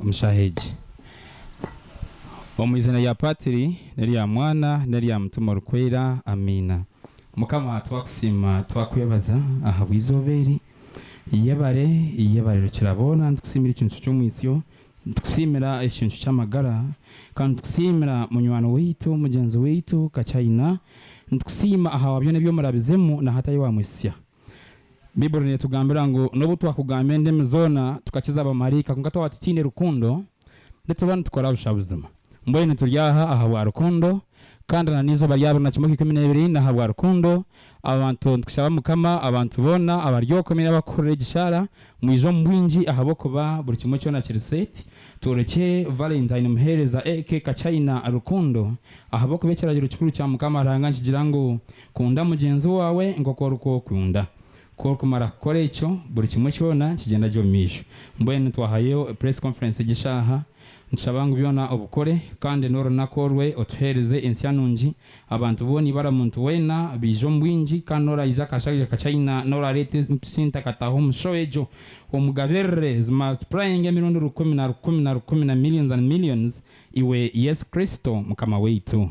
omu shaaha egi. Omu izina rya Patiri, n'erya Mwana, n'erya Mutima Orikwera. Amiina. Mukama twakusiima, twakwebaza ahabw'eizooba eri. Yebare, yebare Rukiraboona. Nitukusiimira ekincu ky'omwitsyo, nitukusiimira ekincu ky'amagara, kandi nitukusiimira munywani waitu, mugyenzi waitu Kachaina. Nitukusiima ahabwa byona ebi omurabizemu n'ahatari wamwesisya. Baibuli neetugambira ngu n'obu twakugamba endimi zoona tukakiza bamaraika kwonka twaba tutaine rukundo, nituba nitukora busha buzima. Mbwenu nituri aha ahabwa rukundo, kandi na n'eizooba rya abiri na kimwe okw'ikumi n'ebiri n'ahabwa rukundo. Abantu nitushaba Mukama abantu boona abari okwe mbwenu abakuhurira egi shaara mwije omu bwingi ahabw'okuba buri kimwe kyona kiri set. Tworekye Valentine muheereza aka ka China rukundo ahabw'okuba ekiragiro kikuru kya Mukama Ruhanga nikigira ngu, Kunda mugyenzi waawe nk'oku orikwokunda. Ku orikumara kukora ekyo, buri kimwe kyona nikigyenda gye omu maisho. Mbwenu twahayo Press Conference egi eshaaha. Nitushaba ngu byona obikore, kandi n'orunaku orwe otuheereze ensya nungi. Abantu boona eibara omuntu weena baije omu bwingi, kandi n'oraaija akashaija ka China n'oraareeta empisi ntakataho omu show egyo, omugabirire zimultiplyinge emirundi rukumi na rukumi na rukumi na millions and millions, iwe Yesu Kristo Mukama waitu.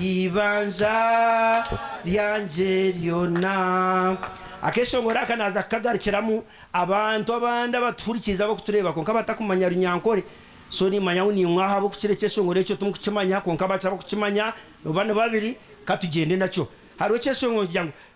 Eibanja ryangye ryona. Akeshongoro aka naaza kukagarukiramu, abantu abandi abatuhurikiize abakutureeba kwonka batakumanya Runyankore, so niimanya ngu niinwe ahabw'okukira ekyeshongoro ekyo timukukimanya kwonka abakye abakukimanya nooba ni babiri, ka tugyende nakyo. Hariho ekyeshongoro nikigira ngu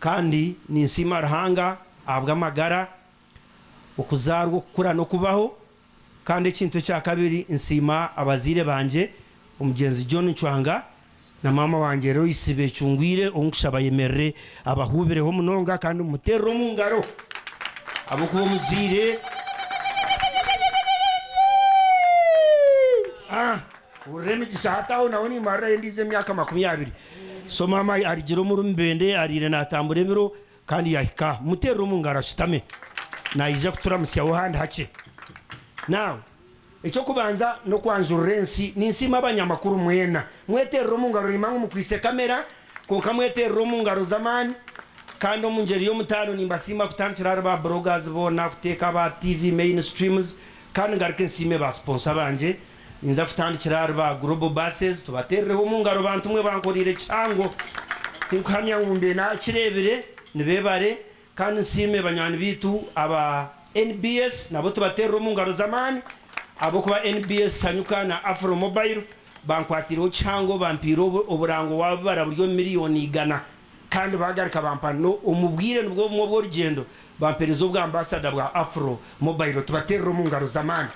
Kandi ninsiima Ruhanga ahabw'amagara, okuzaarwa, okukura n'okubaho. Kandi ekintu ekya kabiri nsiima abazaire bangye, omugyenzi John Ncwanga na maama wangye Loyce Becungwire ou nkushaba ayemerere abahuubireho munonga kandi mumuteerere omu ngaro ahabw'okuba omuzaire. Hurira emigisha hati aho nawe nimarirayo endiijo emyaka makumi abiri. So maama arigira omuri mubende ariire natambura ebiro kandi yahika. Muterere omu ngaro ashutame. Nayija kuturamutsyaho handi hakye. Now, eky'okubanza n'okwanjurira ensi. Ninsiima abanyamakuru mwena. Mweterere omu ngaro nimba ngu mukwitse kamera kwonka mweterere omu ngaro z'amaani. Kandi omu ngyeri y'omutaano nimbasiima kutandikira ahari ba bloggers boona kuteeka aba TV mainstreams. Kandi ngaruke nsiime ba sponsor bangye. Ninza kutandikira ahari ba Global Buses tubateerereho omu ngaro bantu mwe bankoreire kihango. Tinkuhamya ngu mbe naakireebire, ni beebare. Kandi nsiime banywani baitu aba nbs nabo tubateerere omu ngaro z'amaani ahabw'okuba nbs Sanyuka na Afromobile bankwatiireho kihango bampaire oburango waabibara buri omu miliyooni igana. Kandi baagaruka bampa no, omu bwire nibwo bumwe obw'orugyendo, bampereza obwa Ambasada bwa Afro Mobile tubateerere omu ngaro z'amaani.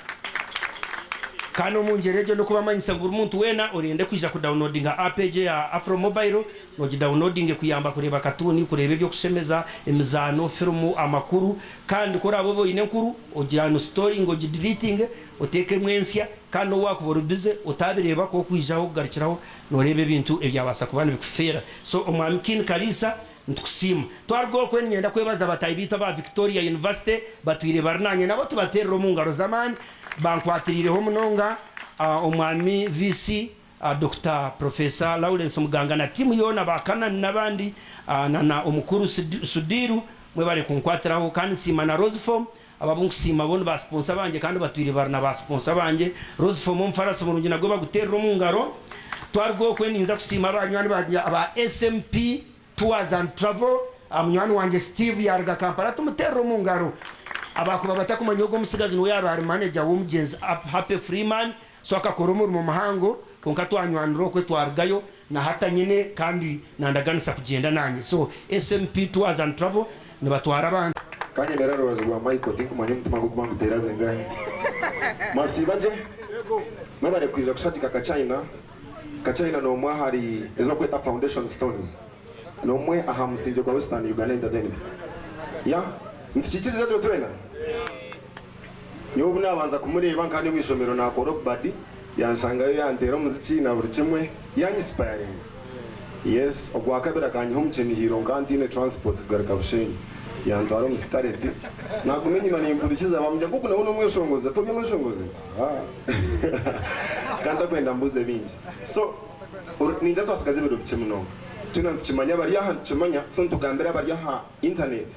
Kandi omu ngyero egyo n'okubamanyisa ngu buri muntu weena orende kwija ku downloadinga app egyo eya Afro Mobile, nogi downloadinge kuyamba kureeba katuuni, kureeba eby'okushemeza, emizaano, firimu, amakuru, kandi ku oraabe obe oine enkuru, ogi unstoringe, ogi deletinge, oteekemu ensya, kandi n'owaakuba ori bize, otaabireeba ahakuba okwijaho kugarukiraho Noreeba ebintu ebyabasa kuba nibikufeera so omwami Kin Kariisa nitukusiima. Twaruga okwe ninyenda kwebaza bataahi baitu aba Victoria University batwiire bari nanye nabo tubateerire omungaro z'amaani bankwatiriireho munonga omwami VC Doctor Professor Lawrence Muganga na tiimu yoona ba Canaan nabandi na na omukuru Sudiru mwebare kunkwatiraho kandi nsiima na Roseform Abo abu nkusiima bo ni baasiponsa bangye kandi batwire bari na baasiponsa bangye. Rose Fomu omufaransa murungi nagwe baguteerere omu ngaro. Twaruga okwe ninza kusiima banywani bangye aba SMP Tours and Travel. Munywani wangye Steve yaaruga Kampala tumuteerere omu ngaro. Abaakuba batakumanya ogwo omutsigazi niwe yaabaire manager w'omugyenzi Happy Freeman. So akakora omurimo muhango, kwonka twanywanira okwe twarugayo na hata nyine kandi nandaganisa kugyenda nanye. So SMP Tours and Travel nibatwara abantu. Kanyemera aha rubaju rwa Michael tinkumanya omutima gukuba nguteera zingahi. Mwasiiba gye? Mwebare kwija kushagika ka China. Ka China n'omwe ahari ezi bakweta foundation stones. N'omwe aha musingye gwa Western Uganda Entertainment. Yah? Nitukikiriza ekyo twena? Nyowe obu naabanza kumureeba nka ndi omu ishomero naakora obubadi, yanshangayo yanteera omuziki na buri kimwe, yaanyisipayaringa. Yes, ogwakabiri akanyiha omu kinihiiro nka ntaine turansipoti kugaruka Bushenyi. Yantwara omu sitareti. Naaguma enyima nimpurikiza baamugira ngu ogu nawe n'omweshongozi. Ati ori omweshongozi? Haa! Ka ntakwenda mbuuze bingi. So, ori naija twatsigaza ebiro bikye munonga. Twena nitukimanya abari aha nitukimanya, so nitugambira abari aha intaneeti.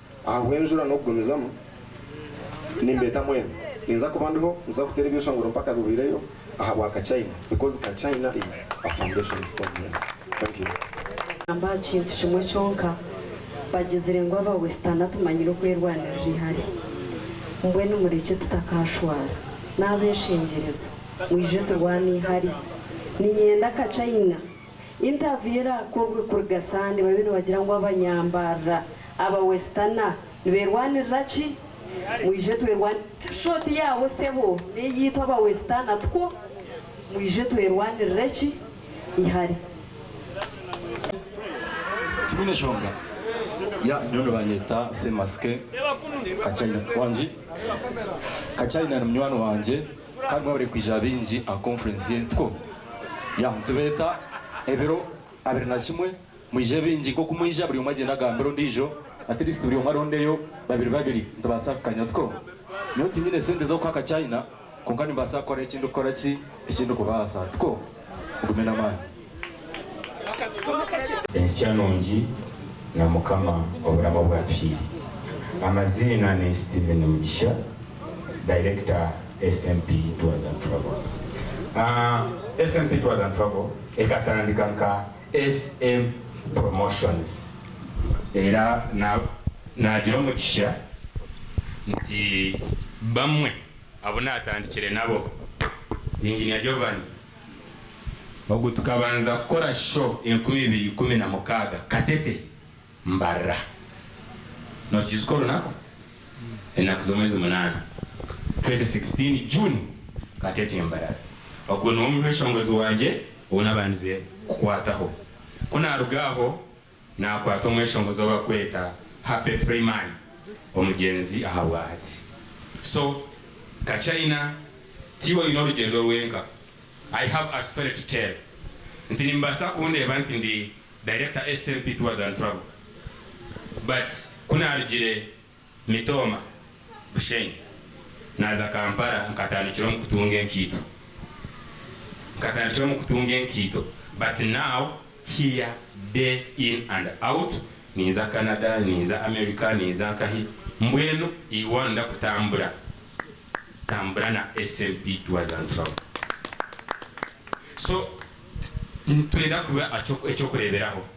Ahabw'enjura n'okugumizamu, nimbeeta mwena. Ninza kuba ndiho, ninza kuteera ebyeshongoro mpaka bihweireyo ahabwa ka China because ka China is a foundation stone here. Thank you. Nagamba aha kintu kimwe kyonka, bagizire ngu aba Westerner tumanyire okwerwanirira ihari. Mbwenu murekye tutakaashwara. N'abeshengyerezo, mwije turwane ihari. Ninyenda ka China. Interview eraakorwe kuriga Sande babe nibagira ngu abanyambarira, aba Westerner, niberwanirira ki? Mwije twerwanirire T-shirt yaawe sebo n'eyiitu aba Westerner tukwo. Mwije twerwanirire ki? Ihare. Tibiine nshonga. Yeah, nyowe nibanyeta Famous Ken. Ka China. Wangi? Ka China ni munywani wangye. Ka gwabure kwija baingi aha conference y'entuko. Ya, nitubeeta ebiro abiri na kimwe. Mwije baingi. Nk'oku mwija, buri omwe agyende agambire ondiijo. At least buri omwe arondeyo babiri babiri. Nitubaasa kukanya tuko. Nyowe tinyine sente z'okuha ka China, kwonka nimbaasa kukora eki ndikukora ki, eki ndikubaasa. Tuko? Ogume n'amaani. Ensya nungi na mukama oburamu obwatuhiire amaziina ni Steven Mugisha director SNP tours and travel aah SNP tours and travel ekatandika nka SM promotions era na nagira omugisha nti bamwe Abu naatandikire nabo ni Engineer Jovani ogu tukabanza kukora sho enkumi ibiri ikumi na mukaaga Katete mbarira. Nookiijuka orunaku? Enaku z'omwezi munaana, 2016 June, Katete mbarara. Ogwo niwo mushongozi wangye ou nabandize kukwataho. Ku naaruga aho Naakwata omweshongozi ou barikweta Happy Freeman, omugyenzi ahabwahati. So, nka China, ti iwe oine orugyendo rwenka. I have a story to tell nti nimubaasa kundeeba nti ndi Director SMP Tours and Travel but ku naarugire Mitooma, Bushenyi. Naaza Kampala nkatandikira omu kutunga enkaito. Nkatandikira omu kutunga enkaito but now here day in and out ninza Canada, ninza America, ninza nkahi mbwenu iwan ndakutambura ntambura na SMP tours and travel. So nitwenda kuba eky'okureeberaho.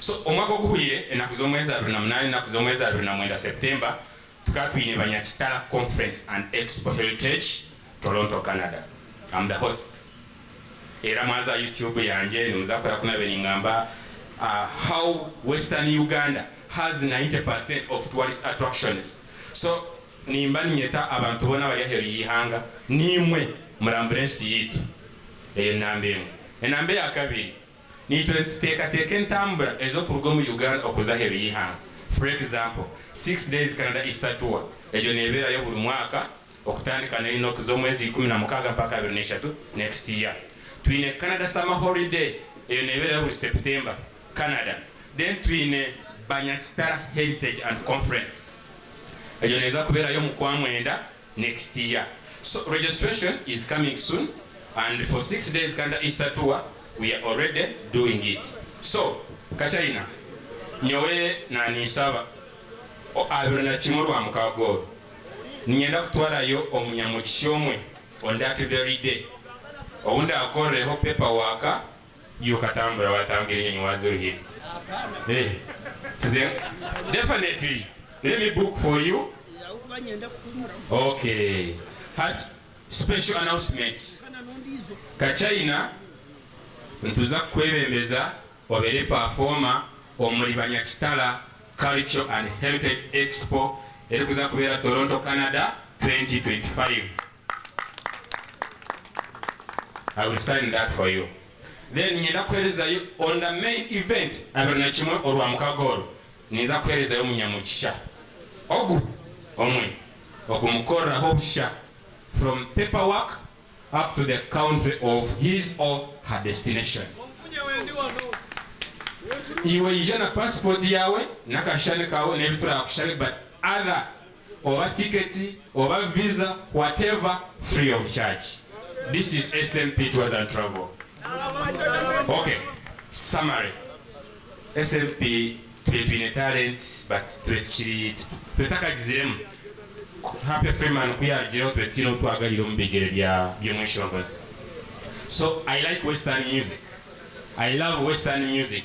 So omwaka oguhwire enaku z'omwezi abiri na munana enaku z'omwezi abiri na mwenda September tukaba twine Banyakitara Conference and Expo Heritage Toronto Canada am the host era mwaza aha YouTube yangye nimuza kuhurira ku nabaire ningamba how western Uganda has 90 percent of tourist attractions so nimba ninyeta abantu boona abari aheeru y'eihanga naimwe murambure ensi yaitu eyo enamba emwe enamba eyakabiri Niitwe nituteekateeka entambura ez'okuruga omu Uganda okuza aheeru y'eihanga. For example, Six Days Canada Easter Tour, egyo neebeerayo buri mwaka okutandika na Inox z'omwezi ikumi na mukaaga mpaka abiri na ishatu next year. Twine Canada Summer Holiday, eyo neebeerayo buri September, Canada. Then twine Banyakitara Heritage and Conference, egyo neeza kubeerayo omu kwa mwenda next year so registration is coming soon and for six days Uganda Easter tour we are already doing it so Kachina nyowe naninsaba o abiri na kimwe Rwamukaaga oru ninyenda kutwarayo omunyamugisha omwe on that very day owu ndakorreho paper work Iwe katambura watambwa ebinyonyi waza oruhire eh tuze definitely let me book for you ok hati special announcement ka china nituza kukwebembeza obere performer omuri banyakitara culture and heritage expo erikuza kubera Toronto Canada 2025. I will sign that for you then niinyenda kuherezayo on the main event abiri na kimwe orwamukaaga orwo ninza kuherezayo omunyamugisha ogu omwe okumukoreraho busha from paper work up to the country of his or her destination. Iwe ija na passport yaawe n'akashushani kaawe n'ebi turaakushabe but other oba ticket oba visa whatever free of charge this is SNP tours and travel ok summary SNP tube twine talent but tube tukiri tube takagiziremu happy freeman ku yarugireho tube tutaine obu twagarire omu bigyere bya by'omweshongozi so I like western music I love western music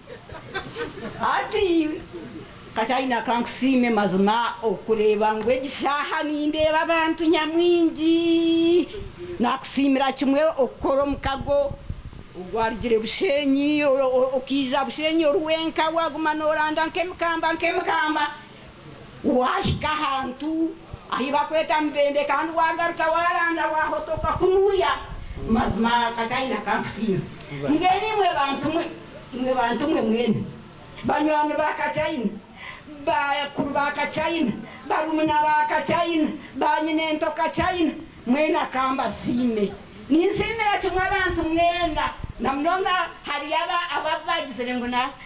Hati Kataina ka nkusiime mazima okureeba ngu egi shaaha nindeeba abantu nyamwingi. Naakusiimira kimwe okukora omukago ogwarugire Bushenyi okaija Bushenyi ori wenka waaguma nooranda nk'emikamba nk'emikamba. Waahika ahantu ahi bakweta Mubende kandi wagaruka waranda wahotoka kunuya mazima Kataine akakusiima. Mbwenu imwe bantu mwe, imwe bantu mwe mwena, banywani ba Kataine, bakuru ba Kataine, barumuna ba Kataine, ba nyinento Kataine, mwena kambasiime. Ninsiimira kimwe abantu mwena, na munonga hariyo ababu bagizire ngu na.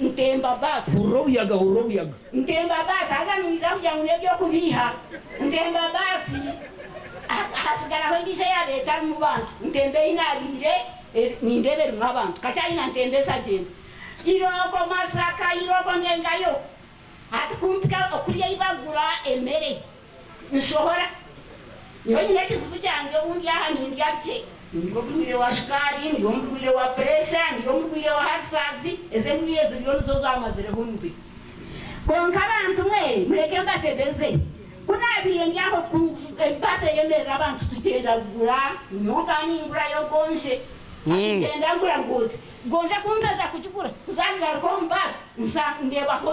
Ntemba bus. Hurira obuyaga, hurira obuyaga. Ntemba bus, haza nimwija kugira ngu n'eby'okubiiha. Ntemba bus, hasigaraho endiijo eyaaba etarimu bantu. Ntemba ei naabiire nindeeba erimu abantu. Kakyayina ntemba esagyenda. Irooko Masaka, irooko ndengayo. Hati kumpika kuri ei bagura emere. Nshohora. Nyowe nyine ekizibu kyangye obu ndi aha nindya bikye. Ndi omurwaire wa shukaari, ndi omurwaire wa pureesha, ndi omurwaire wa harisaazi, ezo endwaire ziriyo nizo zaamazireho omubiri. Kwonka abantu mwe mureke mbatebeze, ku naabaire ndi aho ku baasi eyemerera abantu tugyenda kugura, nyowe nkaba ningura yogoonshe, tugyenda kugura goozi, goozi ku nkaza kugigura, ku zaagaruka omu baasi nsa ndeebaho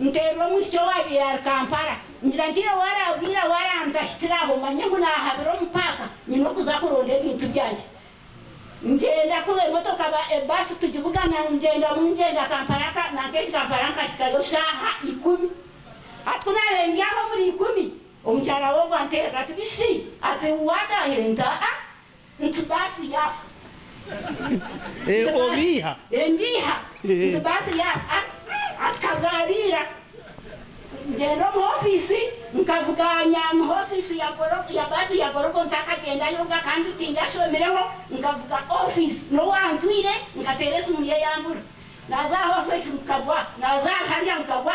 Nteerwa omwishiki owaabaire ari Kampala, ngira nti iwe waarabwire waarantahitsira aho manye ngu naahabira omu paaka nyine okuza kuronda ebintu byangye. Ngyenda kuba emotoka, ebaasi tugibugana ngyendamu ngyenda Kampala, nanka egi Kampala nkahikayo shaaha ikumi. Hati ku naabaire ndi aho omuri ikumi, omukyara w'ogu anteerera ati, Bisi, ati waataahire? Nti, Aa, Nti baasi yaafa. Obiiha. Mbiiha. Nti baasi yaafa. Akagaabiira. Ngyenda omu ofiisi, nkavuga aha nyamuha ofiisi ya Gorogo, ya baasi ya Gorogo ntakagyenda yonka kandi tindi ashomireho, nkavuga ofiisi n'owa ntwire, nkateera esimu ye yaambura. Naaza aha ofiisi nkagwa, naaza harya nkagwa.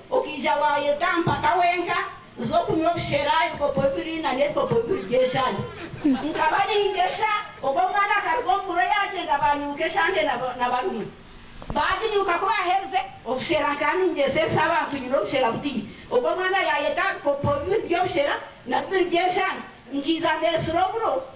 Okaija waayeta mpaka wenka oze okunywa obushera ebikopo bibiri nana ebikopo bibiri by'eshaahi. Nkaba ningesha, obwo omwana akaruga omu buro yaagyenda baanyuuka eshange na barumuna. Baaginyuuka ku baaherize obushera nkaba ningyeseresa abantu nyine obushera buteine. Obwo omwana yaayeta aha bikopo bibiri by'obushera na bibiri by'eshaahi, nkaija ndeesura oburo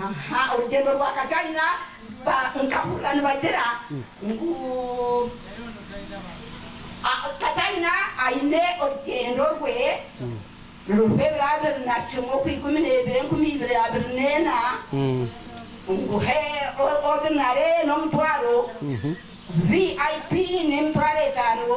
Aha orugyendo rwa kajayina ba nkahurira nibagira ngu kajayina ayine orugyendo rwe ruriho ebiro abiri na kimwe okwa ikumi nebiro enkumi ibiri abiri nena ngu he ordinary n'omutwaro vip n'emitwaro etano.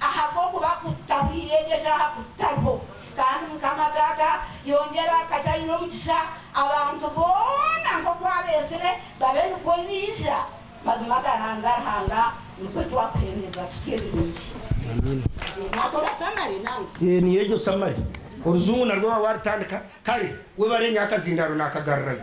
Ahabw'okuba ku tutahuriire egyo eshaaha ku tutariho, kandi Mukama gaga yongyera akagye aine omugisha abantu boona nk'oku abeezire, babe nikwo baija. Mazima agahanga Ruhanga nikwo twakuheereza tutyo ebirungi. Eyo niyo egyo samari. Oruzungu narwo waaba waarutandika kare, webare nyo akazindaaro naakagarurayo.